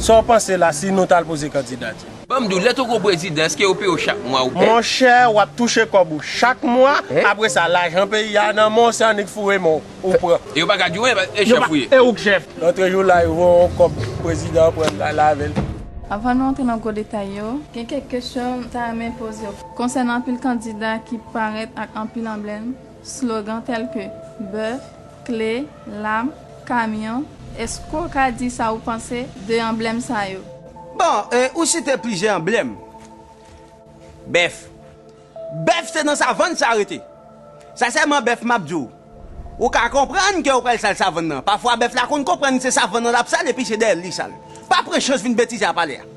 Sa w panse la si nou tal poze kandidati? Banm diw, lè t ou gon prezidan eske yo peye w chak mwa ou pè? Monchè wap touche kòb ou chak mwa apre sa lajan peyi a nan men w se annik foure men w ou pran. E yo paka diw anyen paske e chèf ou ye. E ouk chèf. Rantre jou la yo voye w kòb prezidan an pran l lal avè l. Avan nou antre nan gwo detay yo, gen kèk kesyon m ta renmen poze w. Konsènan anpil kandida ki parèt ak anpil anblèm, Slogan tèl ke, bèf, kle, lam, kamyon, èske w ka di sa ou panse de anblèm sa yo? Bon, ou site plizyè anblèm. Bèf. Bèf se nan savann sa rete. Sa sèlman bèf m ap di w. Ou ka konprann ke ou pral sal savann nan. Pafwa bèf la konn konprann se savann nan l ap sal epi se dèyè l li sal. Pa pran chans vin betize a pale a.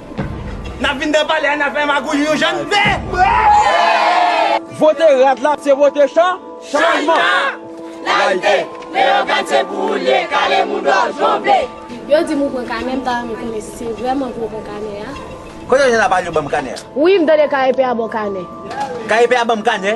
Nap vin dan palè a nap fè magouy yon jan npe. Vote rad la se vote cha chanjman. Layite, Leogane se pou ou l ye, kale moudon, jongle. Yo di m ou pran kanè m ta renmen konnen si se vrèman pou ou pran kanè a. Kote w jwenn la pale yo banm kanè a. Wi m tande KEP a baw kanè. KEP a banm kanè.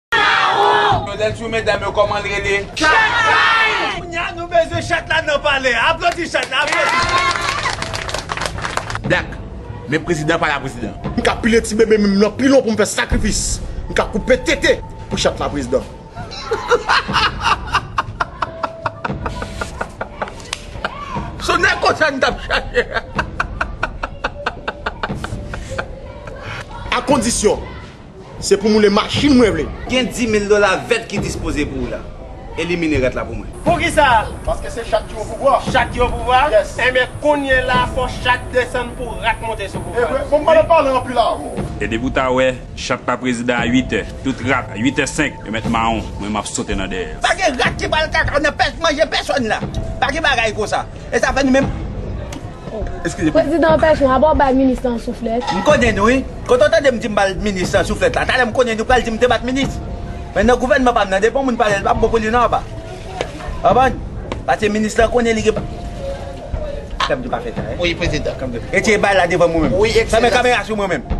Chaoo! Lè n sou medam yo kòman l rele? Chatay! Kounya nou bezwen chat la nan palè a. Aplodi chat la, aplodi chat la. Black, men prezidan pa la prezidan. M ka pile ti bebe men m nan pilon pou m fè sakrifis. M ka koupe tete pou chat la prezidan. Son nèg konsa n t ap chache. Akondisyon Se pou moule machin mwen vle. Gen dimil dola vèt ki dispoze pou ou la. Elimine rèt la pou mwen. Poukisa? Paske se chat ki opouvwa. Chat ki opouvwa? Yes. Enben, kounye la fò chat desann pou rat monte sou pouvwa. Ebre, bon m'pale pale anpil a ou. E depi ou ta wè chat pa prezidan a 8 è, tout rat a 8 è 5 yo mèt mawon, mwen m'ap sote nan dèyè yo. Pa gen rat ki pral kaka nan pèch manje pèsòn la. Pa gen bagay konsa. E sa fè nou menm Prezidan an pèson aba w bay minis lan souflèt. M konnen nou wi. Kote w tande m di m bal minis lan souflèt la? Talè m konnen nou pral di m te bat minis. Men nan gouvènman pa m nan depi yon moun pale l pap bon pou li non aba. Konprann? Paske minis lan konnen li gen pa. Fè m di pa fè sa. Wi prezidan. Retire bal la devan mwen menm. Wi ekselans. Fèmen kamera sou mwen menm.